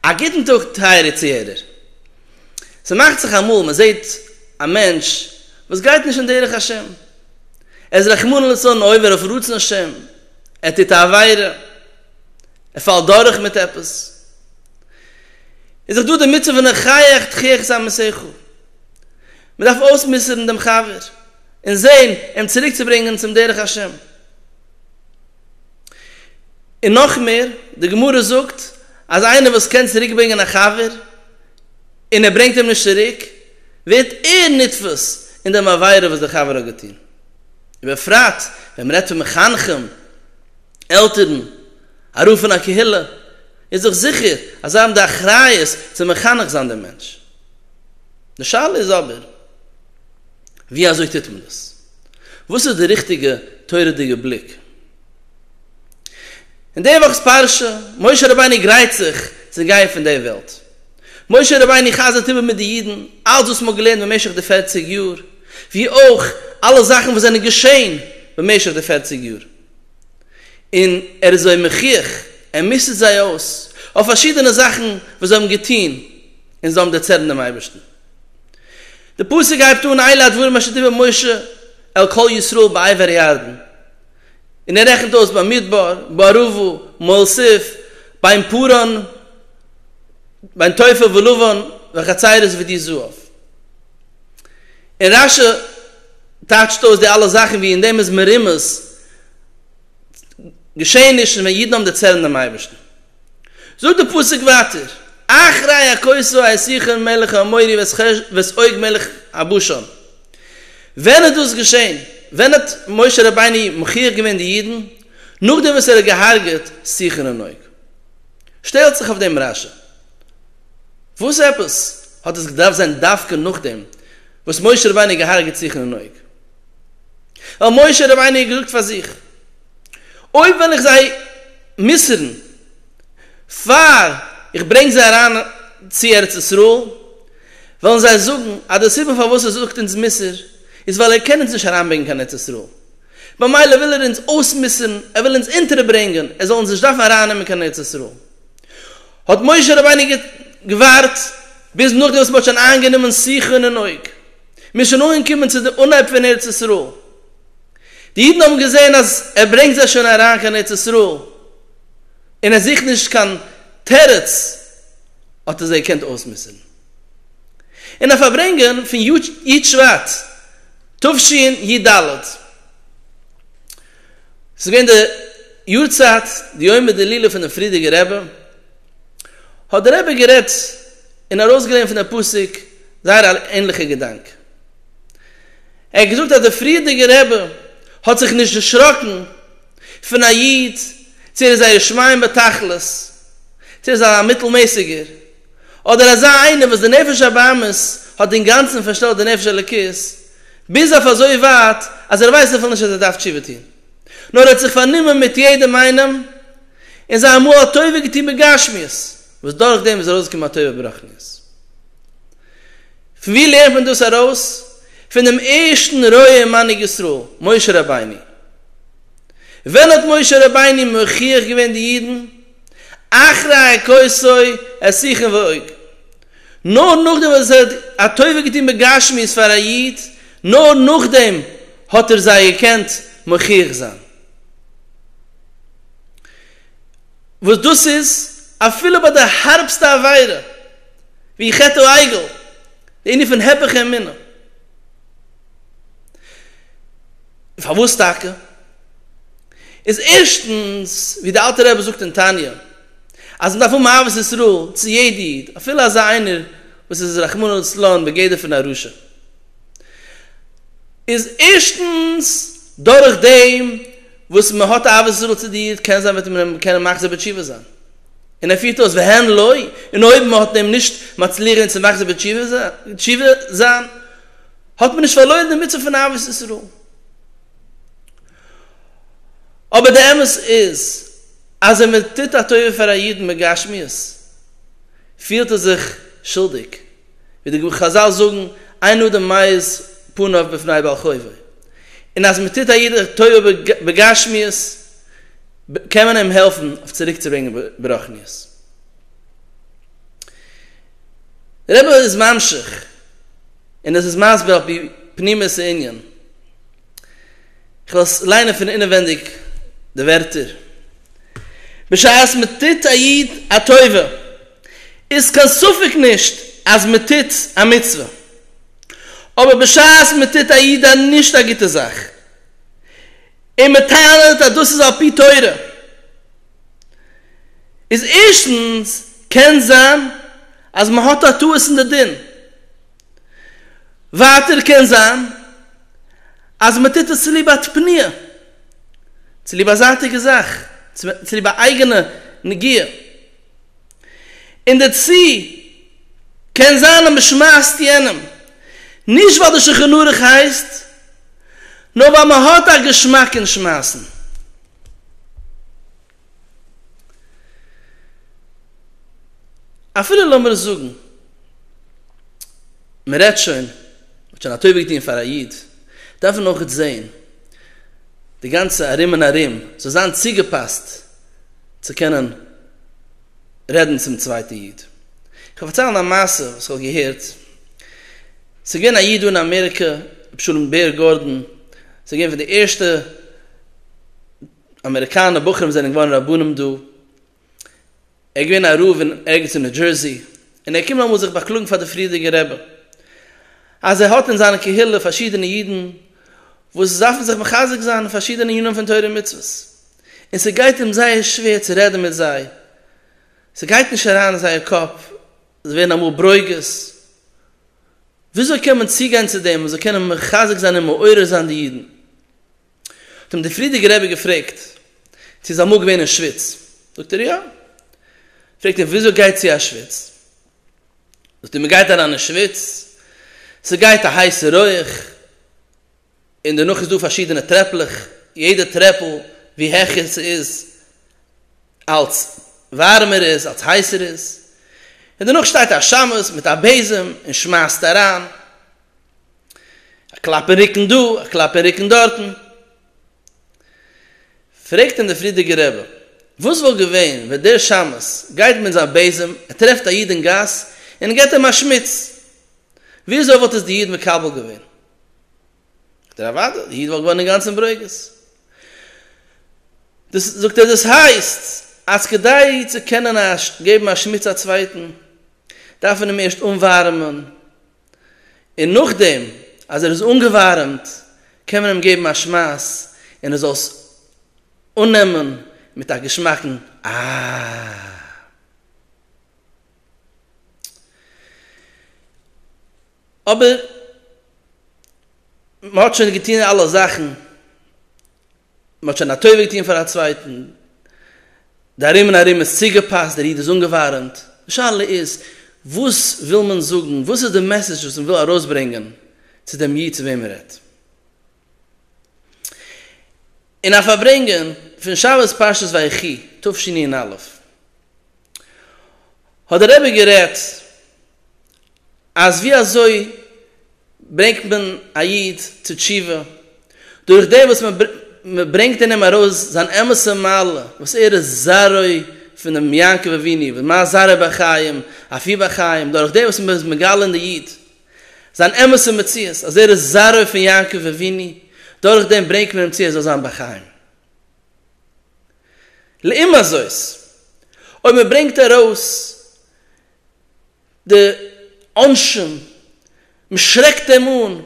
א גוטן טאג טייערע צוהערער. ס'מאכט זיך אמאל מען זעהט א מענטש וואס גייט נישט אין דרך השם, ער איז רחמנא לצלן עובר אויף רצון השם, ער טוט א עבירה, ער פאלט דורך מיט עפעס, איז דאך דא די מצוה פון החייך תחיך את עמיתך, מען דארף אויסמוסר'ן דעם חבר און זעהן אים צוריק צו ברענגען צום דרך השם. און נאך מער, די גמרא זאגט אז איינער וואס קען צוריק ברענגען א חבר און ער ברענגט אים נישט צוריק, ווערט ער נתפס אין דעם עבירה וואס דער חבר האט געטון. ובפרט ווען מען רעדט פון מחנכים, עלטערן, א רב פון א קהילה, איז דאך זיכער אז זיי האבן די אחריות צו מחנך זיין דעם מענטש. די שאלה איז אבער, ווי אזוי טוט מען דאס? וואס איז די ריכטיגע תורה'דיגע בליק? אין די וואכ'ס פרשה, משה רבינו גרייט זיך צו גיין פון די וועלט. משה רבינו חזר'ט איבער מיט די אידן אלץ וואס מ'האט געלערנט במשך די פערציג יאר, ווי אויך אלע זאכן וואס זענען געשען במשך די פערציג יאר, און ער איז זיי מוכיח, ער מוסר'ט זיי אויס, אויף פארשידענע זאכן וואס זיי האבן געטון, און זיי האבן דערצערנט דעם אייבערשטן. די פסוק הייבט אן אלה הדברים אשר דיבר משה אל כל ישראל בעבר הירדן, און ער רעכנט אויס במדבר, בערבה, מואל סיף, בין פרען, בין תופר ולבן, וחצרות ודי זהב. און רש י טייטשט אויס די אלע זאכן ווי אין דעם איז מרומז געשעענישן ווען אידן האבן דערצערנט דעם אייבערשטן. זאגט דער פסוק ווייטער, אחרי הכוסו את סיחון מלך האמורי ואת עוג מלך הבשן. ווען איז דאס געשען? ווען האט משה רבינו מחי' געווען די אידן? נאכדעם וואס ער האט געהארגעט סיחון און עוג? שטעלט זיך אויף דעם רשע. וואס עפעס האט עס געדארפט זיין דווקא נאכדעם וואס משה רבינו האט געהארגעט סיחון און עוג? ווייל משה רבינו האט געזאגט פאר זיך. אויב וועל איך זיי מוסר'ן פאר איך ברענג זיי אריין צו ארץ ישראל, וועלן זיי זאגן אז די סיבה פארוואס ער זאגט אונז מוסר איז ווייל ער קען אונז נישט אריינברענגען קיין ארץ ישראל, במילא וויל ער אונז אויסמוסר'ן, ער וויל אונז אונטערברענגען, ער זאל אונז נישט דארפן ארייננעמען קיין ארץ ישראל. האט משה רבינו געווארט ביז נאכדעם וואס מען האט שוין איינגענומען סיחון און אוג, מען איז שוין אנגעקומען צו די אנהייב פון ארץ ישראל. די אידן האבן געזען אז ער ברענגט זיי שוין אריין קיין ארץ ישראל און ער זוכט נישט קיין תירוץ, האט ער זיי געקענט אויסמוסר'ן. אין א פארברענגען פון י' שבט תשנ י-ד, ס'איז געווען די יארצייט די יומא דלילה פונעם פרידיגער רבי, האט דער רבי גערעדט און ארויסגעלערנט פון דעם פסוק זייער א ענליכע געדאנק. ער האט געזאגט אז דער פריערדיגער רבי האט זיך נישט דערשראקן פון א איד צו ער איז א יש מאין בתכלית, צו ער איז א מיטלמעסיגער, אדער אזא איינער וואס די נפש הבהמית האט אינגאנצן פארשטעלט די נפש האלוקית ביז אויף אזוי ווייט אז ער ווייסט אפילו נישט אז ער דארף תשובה טון, נאר ער האט זיך פארנומען מיט יעדעם איינעם און זיי אמאל א טובה געטון בגשמיות וואס דורכדעם איז ארויסגעקומען א טובה ברוחניות. ווי לערנט מען דאס ארויס? פון דעם ערשטן רועה און מנהיג ישראל, משה רבינו. ווען האט משה רבינו מוכיח געווען די אידן? אחרי הכוסוי השיכון ועוג. נאר נאכדעם וואס ער האט א טובה געטון בגשמיות פאר א איד, נאר נאכדעם האט ער זיי געקענט מוכיח זיין. וואס דאס איז אפילו ביי די הארבסטע עבירה ווי חטא העגל, די ענין פון הפך האמונה. און פארוואס טאקע? איז ערשטנס, ווי די אלטע רבי זאגט אין תניא, אז מ'דארף האבן אהבת ישראל צו יעדע איד, אפילו אזא איינער וואס איז רחמנא לצלן בגדר פון א רשע, איז ערשטנס דורכדעם, וואס מען האט אהבת ישראל צו די איד, קען זיין וועט מען אים קענען מחזיר בתשובה זיין. און ער פירט אויס והן לא, און אויב מען האט אים נישט מצליח אים צו מחזיר בתשובה זיין, האט מען נישט פארלוירן די מצוה פון אהבת ישראל. אבער די אמת איז, אז ווען מען טוט א טובה פאר א איד בגשמיות, פילט ער זיך שולדיג, ווי די חזל זאגן אין אדם מאיר פניו בפני בעל חובו, און אז מען טוט א איד טובה בגשמיות קען מען אים העלפן אויף צוריק צו ברענגען ברחניות. דער רבי איז ממשיך און עס איז מסביר על פי פנימיות הענין, איך וועל עס ליינען פון אינעווענדיג די ווערטער, בשעת מען טוט א איד א טובה, איז קיין ספק נישט אז מען טוט א מצוה, אבער בשעת מען טוט א איד א נישט א גוטע זאך, און מען טענה'ט אז דאס איז על פי תורה, איז ערשטנס קען זיין אז מען האט א טעות אין די דין, ווייטער קען זיין אז מען טוט עס צוליב א תפניא, צוליב א זייטיגע זאך, צוליב א אייגענע נגיעה. און דערצו קען זיין אז מען שמייסט יענעם נישט ווייל די שולחן ערוך הייסט, נאר ווייל מען האט א געשמאק אין שמייסן. אפילו לאמיר זאגן מען רעדט שוין, מען האט שוין א טובה געטון פאר א איד, דארף מען אויך זען די גאנצע ארום און ארום זאל זיין צוגעפאסט, צו קענען רעדן צום צווייטע איד. כ'וועל פארציילן א מעשה וואס כ'האב געהערט. ס'איז געווען א איד דא אין אמעריקע, אבשלום בער גארדאן, ס'איז געווען פון די ערשטע אמעריקאנע בחורים וואס זענען געווארן רבנים דא. ער איז געווען א רב אין ערגעץ אין ניו דזשערסי, און ער איז געקומען אמאל זיך באקלאגן פאר די פריערדיגע רבי, אז ער האט אין זיינע קהילה פארשידענע אידן וואס דארפן זיך מחזק זיין אין פארשידענע ענינים פון תורה ומצוות, און ס'גייט אים זייער שווער צו רעדן מיט זיי, ס'גייט נישט אריין אין זייער קאפ, זיי ווערן אמאל ברוגז, וויאזוי קען מען צוגיין צו דעם מ'זאל קענען מחזק זיין און מעורר זיין די אידן? האט אים דער פריערדיגער רבי געפרעגט צו איז אמאל געווען אין שוויץ, זאגט ער יא, פרעגט ער וויאזוי גייט צו אשוויץ, זאגט ער מ'גייט אריין אין שוויץ, ס'גייט א הייסע רויעך, און דערנאך איז דא פארשידענע טרעפלעך, יעדע טרעפל ווי העכער ס'איז אלץ ווארעמער איז אלץ הייסער איז, און דערנאך שטייט א שמש מיט א בעזעם און שמייסט אריין, א קלאפ אין רוקן דא, א קלאפ אין רוקן דארטן. פרעגט אים דער פרידיגער רבי, וואס וואלט געווען ווען דער שמש גייט מיט זיין בעזעם, ער טרעפט א איד אין גאס און ער געבט אים א שמוץ, וויאזוי וואלט עס די איד מקבל געווען? זאגט ער אוואדע, די איד וואלט געווארן אינגאנצן ברוגז. דאס, זאגט ער, דאס הייסט אז כדי צו קענען געבן א שמוץ א צווייטן דארף מען אים ערשט אנווארעמען, און נאכדעם אז ער איז אנגעווארעמט קען מען אים געבן א שמייס און ער זאל עס אננעמען מיט א געשמאקן אה. אבער מען האט שוין געטון אלע זאכן, מען האט שוין א טובה געטון פאר א צווייטן, די ארום און ארום איז צוגעפאסט, דער איד איז אנגעווארעמט, די שאלה איז וואס וויל מען זאגן, וואס איז די מעסעדזש וואס מען וויל ארויסברענגען צו דעם איד צו וועם מען רעדט. אין א פארברענגען פון שבת פרשת ויחי תשענ א' האט דער רבי גערעדט, אז ווי אזוי ברענגט מען א איד צו תשובה? דורך דעם וואס מען ברענגט אין אים ארויס זיין אמת'ע מעלה וואס ער איז זרעו פונעם יעקב אבינו וואס מה זרע בחיים אף היא בחיים, דורך דעם וואס מען איז מגלה אין די איד זיין אמת'ע מציאות אז ער איז זרעו פון יעקב אבינו, דורך דעם ברענגט מען אים צו ער זאל זיין בחיים. לעומת זאת אויב מען ברענגט ארויס די עונשים, מען שרעקט אים אן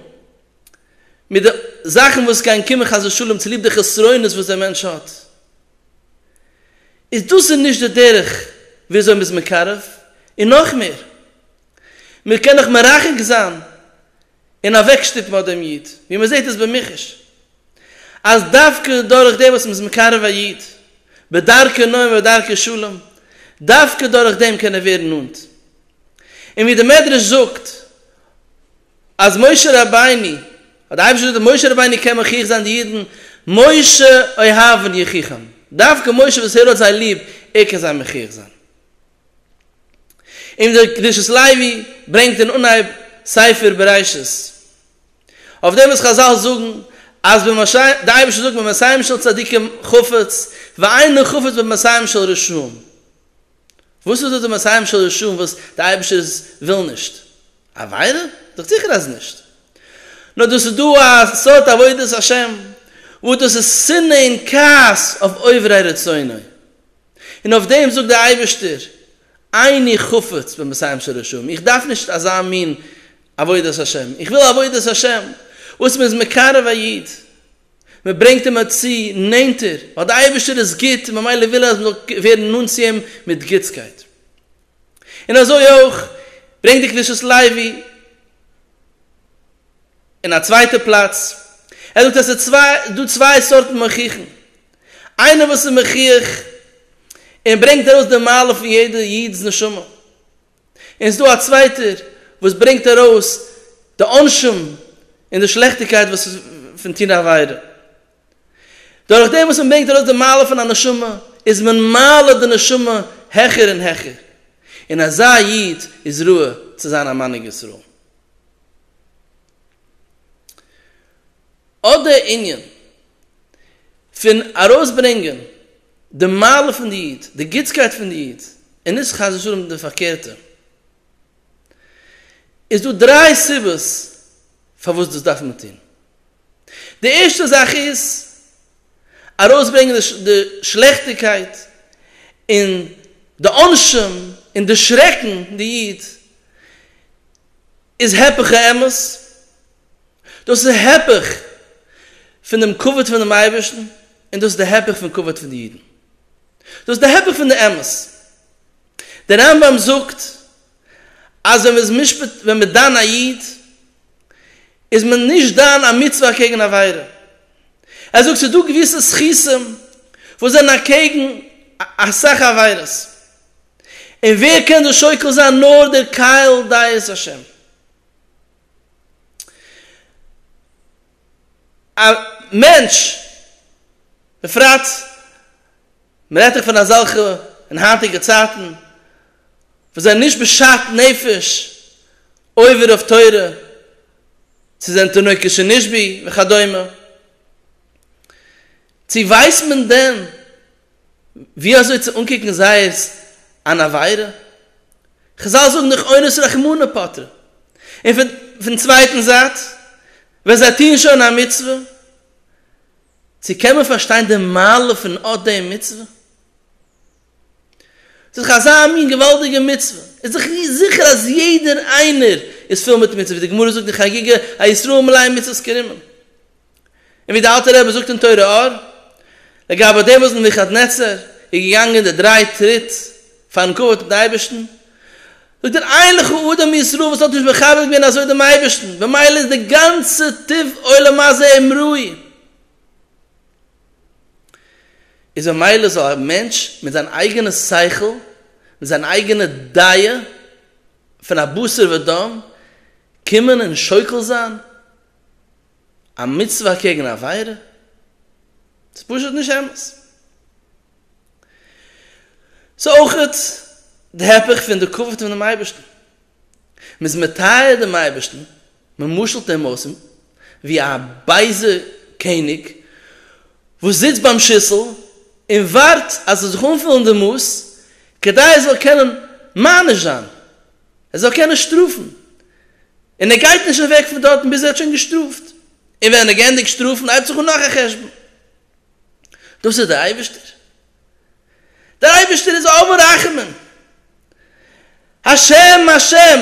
מיט די זאכן וואס גייען קומען חס ושלום צוליב די חסרונות וואס דער מענטש האט, איז דאס איז נישט די דרך ווי אזוי מען איז מקרב, און נאך מער, מען קען דאך מרחק זיין און אוועקשטופן אט דעם איד, ווי מען זעט עס במחש, אז דווקא דורך דעם וואס מען איז מקרב א איד, בדרכי נועם ובדרכי שלום, דווקא דורך דעם קען ער ווערן נאנט. און ווי דער מדרש זאגט, אז משה רבינו, האט דער אייבערשטער געזאגט, משה רבינו קען מוכיח זיין די אידן, משה אוהבן יוכיחם, דווקא משה וואס ער האט זיי ליב, ער קען זיי מוכיח זיין. און דער קדושת לוי ברענגט אין אנהייב ספר בראשית אויף דעם וואס חזל זאגן אז דער אייבערשטער זאגט במסעם של צדיקים חפץ ואינו חפץ במסעם של רשעים, וואס איז דאס די מסעם של רשעים וואס דער אייבערשטער וויל נישט? עבירה? זאגט זיכער אז נישט, נאר דאס איז דא א סארט עבודת השם וואס דאס איז שנאה און כעס אויף עוברי רצונו, און אויף דעם זאגט דער אייבערשטער, איני חפץ במסיים שרשום, איך דארף נישט אזא מין עבודת השם, איך וויל עבודת השם וואס מען איז מקרב א איד, מען ברענגט אים צו נענטער, ווייל דער אייבערשטער איז גוט און ממילא וויל ער אז מען זאל ווערן נאנט צו אים מיט גוטסקייט. און אזוי אויך ברענגט די קדושת לוי אין א צווייטע פלאץ, ער זאגט אז עס איז דא צוויי סארטן מוכיחים, איינער וואס איז מחי' און ברענגט ארויס די מעלה פון יעדע איד'ס נשמה, און ס'איז דא א צווייטער וואס ברענגט ארויס די עונשים און די שלעכטיגקייט וואס איז פון טון עבירה. דורך דעם וואס מען ברענגט ארויס די מעלה פון א נשמה איז מען מעלה די נשמה העכער און העכער, און אזא איד איז ראוי צו זיין א מנהיג ישראל. אט דער ענין פון ארויסברענגען די מעלה פון די איד, די גוטסקייט פון די איד, און נישט חס ושלום די פארקערטע, איז דא דריי סיבות פארוואס דאס דארף מען טון. די ערשטע זאך איז ארויסברענגען די שלעכטיגקייט און די עונשים און דערשרעקן די איד, איז הפך האמת, דאס איז הפך פון דעם כבוד פונעם אייבערשטן, און דאס איז די הפך פון כבוד פון די אידן, דאס איז די הפך פון די אמת. דער רמב ם זאגט אז ווען מען איז משפט, ווען מען דן א איד, איז מען נישט דן א מצוה אקעגן א עבירה. ער זאגט ס'איז דא געוויסע זכותים וואס זענען אקעגן אסאך עבירות, און ווער קען דאס שוקל זיין נאר דער קהל דעת השם. א מענטש, בפרט מען רעדט דאך פון אזעלכע אין היינטיגע צייטן וואס זענען נישט בשאט נפש עובר אויף תורה, ס'זענען תינוקות שנשבי וכדומה, צו ווייסט מען דען ווי אזוי צו אנקוקן זייערס אן עבירה? חזל זאגן דאך אונס רחמנא פטרא. און פון צווייטן זייט, ווען זיי טוען שוין א מצוה, צו קען מען פארשטיין די מעלה פון אט דעם מצוה? ס'איז דאך אזא מין געוואלדיגע מצוה, איז דאך זיכער אז יעדער איינער איז פול מיט מצוות, ווי די גמרא זאגט אין חגיגה א ישראל מלא מצוות כרימון, און ווי די אלטע רבי זאגט אין תורה אור, לגבי די וואס נבוכדנצר איז געגאנגען די דריי טריט פארן כבוד מיטן אייבערשטן, זאגט ער איין לך אדם מישראל וואס האט נישט מכבד געווען אזוי דעם אייבערשטן, ממילא איז די גאנצע טוב עולם הזה עם רועי. איז ממילא זאל א מענטש מיט זיין אייגענע שכל, מיט זיין אייגענע דעה פון א בשר ודם, קומען און שוקל זיין א מצוה אקעגן א עבירה? ס'איז פשוט נישט אמת. ס'איז אויכעט די הפך פון די כבוד פונעם אייבערשטן. מ'איז מטהר דעם אייבערשטן מען משל'ט דעם אויס ווי א בייזע קעניג וואס זיצט ביים שיסל און ווארט אז עס זאל זיך אנפילן די מאס כדי ער זאל קענען מעניש זיין, ער זאל קענען שטראפן, און ער גייט נישט אוועק פון דארטן ביז ער האט שוין געשטראפט, און ווען ער גענדיגט שטראפן הייבט זיך אן נאך א חשבון. דאס איז דער אייבערשטער? דער אייבערשטער איז אב הרחמים, השם השם,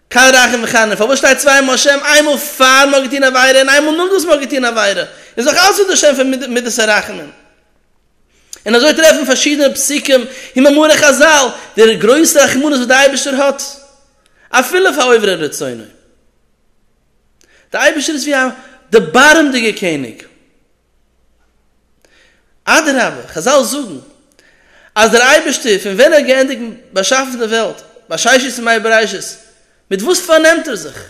קל רחום וחנון, פארוואס שטייט צוויי מאל השם, איינמאל פאר מ'האט געטון עבירה און איינמאל נאכדעם וואס מ'האט געטון עבירה, איז דאך אלץ אונטער שם פון מדת הרחמים. און אזוי טרעפט מען פארשידענע פסוקים און מאמרי חזל די גרויסע רחמנות וואס דער אייבערשטער האט אפילו פאר עוברי רצונו. דער אייבערשטער איז ווי א דערבארעמדיגער קעניג. אדרבה, חזל זאגן אז דער אייבערשטער פון ווען ער האט געענדיגט באשאפן די וועלט, בששת ימי בראשית, מיט וואס פארנעמט ער זיך?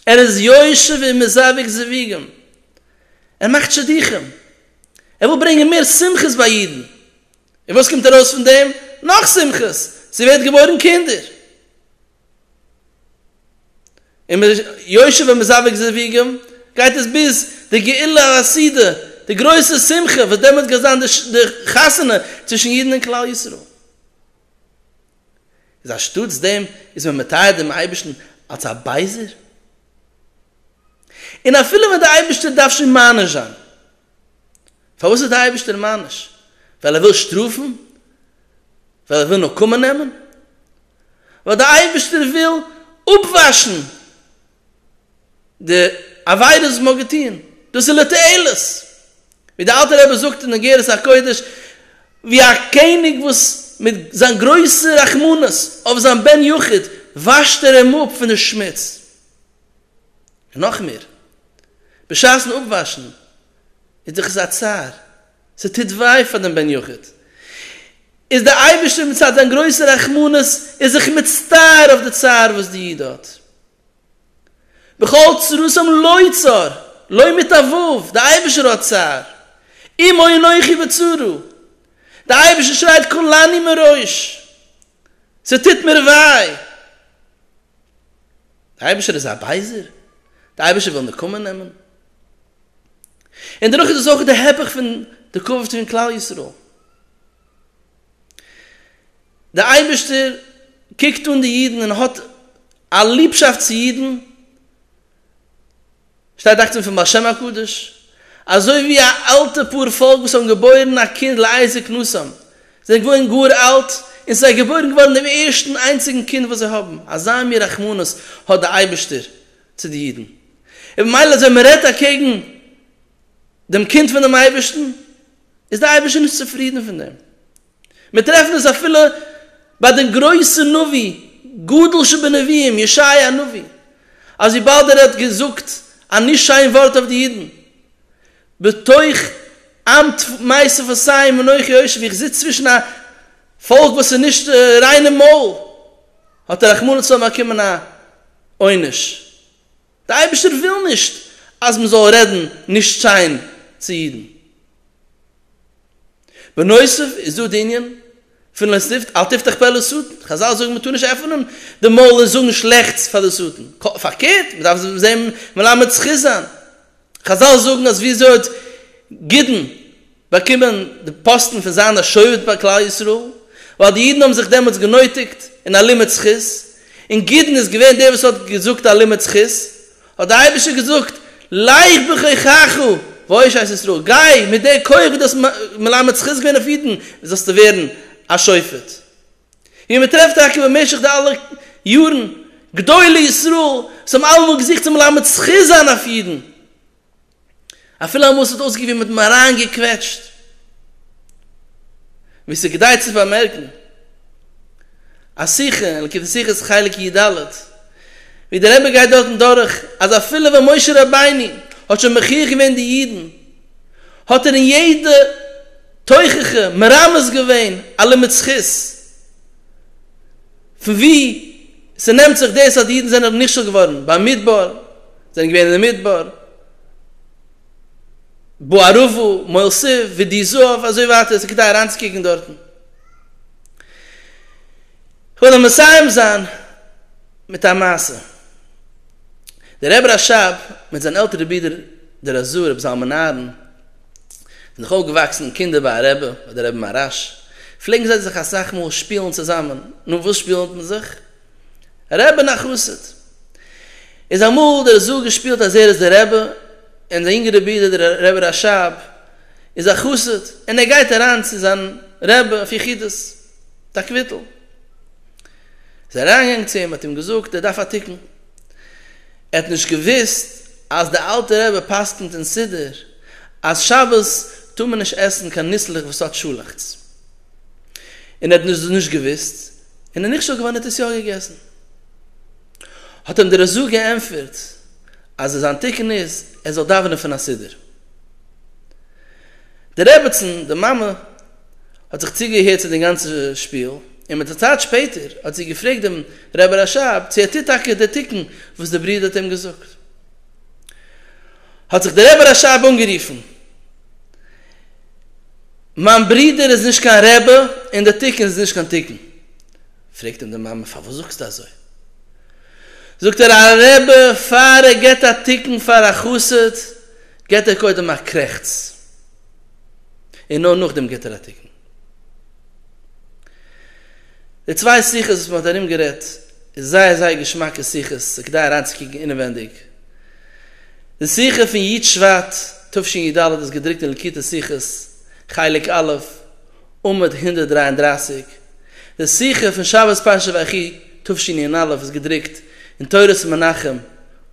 ער איז יושב ומזווג זוויגים, ער מאכט שידוכים, ער וויל ברענגען מער שמחות ביי אידן, און וואס קומט ארויס פון דעם? נאך שמחות, ס'ווערט געבוירן קינדער. און מען איז יושב און מזווג זוויגים, גייט עס ביז די גאולה הסעודה, די גרויסע שמחה וואס דעמאלטס גייט זיין די חתונה צווישן אידן און כלל ישראל. איז אנשטאטס דעם איז מען מטהר דעם אייבערשטן אלס א בייזער? און אפילו ווען דער אייבערשטער דארף שוין מעניש זיין, פארוואס איז דער אייבערשטער מעניש? ווייל ער וויל שטראפן? ווייל ער וויל נקמה נעמען? ווייל דער אייבערשטער וויל אפוואשן די עבירות וואס מען האט געטון? דאס איז לתועלת. ווי דער אלטער רבי זאגט אין אגרת הקודש, ווי א קעניג וואס מיט זיין גרויסע רחמנות אויף זיין בן יחיד וואשט ער אים אפ פון די שמוץ. און נאך מער, בשעת'ן אפוואשן איז דאך עס א צער, ס'טוט וויי פאר דעם בן יחיד, איז דער אייבערשטער מצד זיין גרויסע רחמנות איז זיך מצטער אויף די צער וואס די איד האט. בכל צרתם לא צר, לא מתעבב, דער אייבערשטער האט צער, עמו אנכי בצרה, דער אייבערשטער שרייט כולני מראש. ס'טוט מיר וויי! דער אייבערשטער איז א בייזער? דער אייבערשטער וויל נקמה נעמען? און דערנאך איז עס אויך די היפוך פון די קו פון כלל ישראל. דער אייבערשטער קוקט אן די אידן און האט א ליבשאפט צו אידן, שטייט דאכט זיך פון בעל שם הקדוש, אזוי ווי א אלטע פאר פאלק וואס האבן געבוירן א קינד לעי זקנותם, זיי זענען געווארן גאר אלט, און ס'איז זיי געבוירן געווארן דעם ערשטן איינציגן קינד וואס זיי האבן, אזא מין רחמנות האט דער אייבערשטער צו די אידן, און במילא ווען מ'רעדט אקעגן דעם קינד פונעם אייבערשטן, איז דער אייבערשטער נישט צופרידן פון דעם. מיר טרעפן עס אפילו ביי דעם גרויסן נביא, גדול שבנביאים, ישעי' הנביא, אז וויבאלד ער האט געזאגט א נישט שיין ווארט אויף די אידן, בתוך עם טמאי שפתיים ואנכי יושב, איך זיץ צווישן א פאלק וואס איז נישט ריין אין מויל, האט ער רחמנא ליצלן באקומען א עונש. דער אייבערשטער וויל נישט אז מען זאל רעדן נישט שיין צו אידן. בנוסף איז דא די ענין פון לא תפתח אל תפתח פה לשטן, חזל זאגן מען טאר נישט עפענען די מויל און זאגן שלעכטס פאר די שטן, פארקערט מען דארף זיי מלמד זכות זיין, חזל זאגן אז ווי אזוי האט גדעון באקומען די פאסטן פון זיין א שופט ביי כלל ישראל, ווייל די אידן האבן זיך דעמאלטס גענויטיגט אין א לימוד זכות, און גדעון איז געווען דער וואס האט געזאגט א לימוד זכות, האט דער אייבערשטער געזאגט, לך בכוחך ואושעס ישראל, גיי, מיט דער כח וואס דו האסט מלמד זכות געווען אויף אידן, זאלסטו ווערן א שופט. ווי מען טרעפט טאקע במשך די אלע יארן גדולי ישראל וואס האבן אלעמאל געזוכט צו מלמד זכות זיין אויף אידן, אפילו אמאל ס'האט אויסגעקוקט ווי מ'האט עם אריינגעקוועטשט. ווי ס'איז כדאי צו פארמערקן, א שיחה אין ליקוטי שיחות חלק י ד, ווי דער רבי גייט דארטן דורך אז אפילו ווען משה רבינו האט שוין מכריח געווען די אידן, האט ער אין יעדע תוכחה מרמז געווען א לימוד זכות. פון ווי ס'נעמט זיך דאס אז די אידן זענען נכשל געווארן ביים מדבר, זענען געווען אין די מדבר, באר ערבה, מויל סיף, ודי זהב, אזוי ווייטער, ס'איז כדאי אריינצוקוקן דארטן. כ'וועל נאר מסיים זיין מיט א מעשה. דער רבי רשב מיט זיין עלטערע ברודער דער הזוה רבי זלמן אהרן, זענען נאך אויפגעוואקסן קינדער ביי א רבי אדער רבי מהרש פלעגן זיי זיך אסאך מאל שפילן צוזאמען, נו וואס שפילט מען זיך? רבי און א חסיד. איז אמאל דער זאל געשפילט אז ער איז דער רבי און זיין יונגערע ברודער דער רבי רשב איז א חסיד און ער גייט אריין צו זיין רבי אויף יחידות, א קוויטל. איז ער אריינגעגאנגען צו אים האט אים געזאגט ער דארף א תיקון, ער האט נישט געוואוסט אז די אלטע רבי פסק'נט אין סידור אז שבת טאר מען נישט עסן קיין ניסלעך וואס האט שאלאכטס, און ער האט דאס נישט געוואוסט און איז נכשל געווארן און האט עס יא געגעסן, האט אים דער רזא געענטפערט אז זיין תיקון איז ער זאל דאווענען פון א סידור, דער רעבעצן, די מאמע. האט זיך צוגעהערט צו דעם גאנצן שפיל, און מיט א צייט שפעטער האט זי געפרעגט דעם רבי רשב צו ער טוט טאקע דער תיקון וואס דער ברודער האט אים געזאגט. האט זיך דער רבי רשב אנגערופן, מיין ברודער איז נישט קיין רבי און דער תיקון איז נישט קיין תיקון. פרעגט אים די מאמע, פארוואס זאגסטו אזוי? זאגט ער, א רבי פאר ער געבט א תיקון פאר א חסיד געבט ער קודם א קרעכץ. און נאר נאכדעם גיבט ער א תיקון. די צוויי שיחות וואס מען האט ארום גערעדט איז זייער זייער געשמאקע שיחות, ס'איז כדאי אריינצוקוקן אינעווענדיג. די שיחה פון י' שבט תשי ד איז געדרוקט אין לקוטי שיחות, חלק א', עמוד הונדערט דרײַ און דרײַסיק. די שיחה פון שבת פרשת ויחי תשי נ א איז געדרוקט אין תורת מנחם,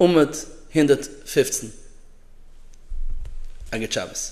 עמוד הונדערט פֿופֿצן. א גוט שבת.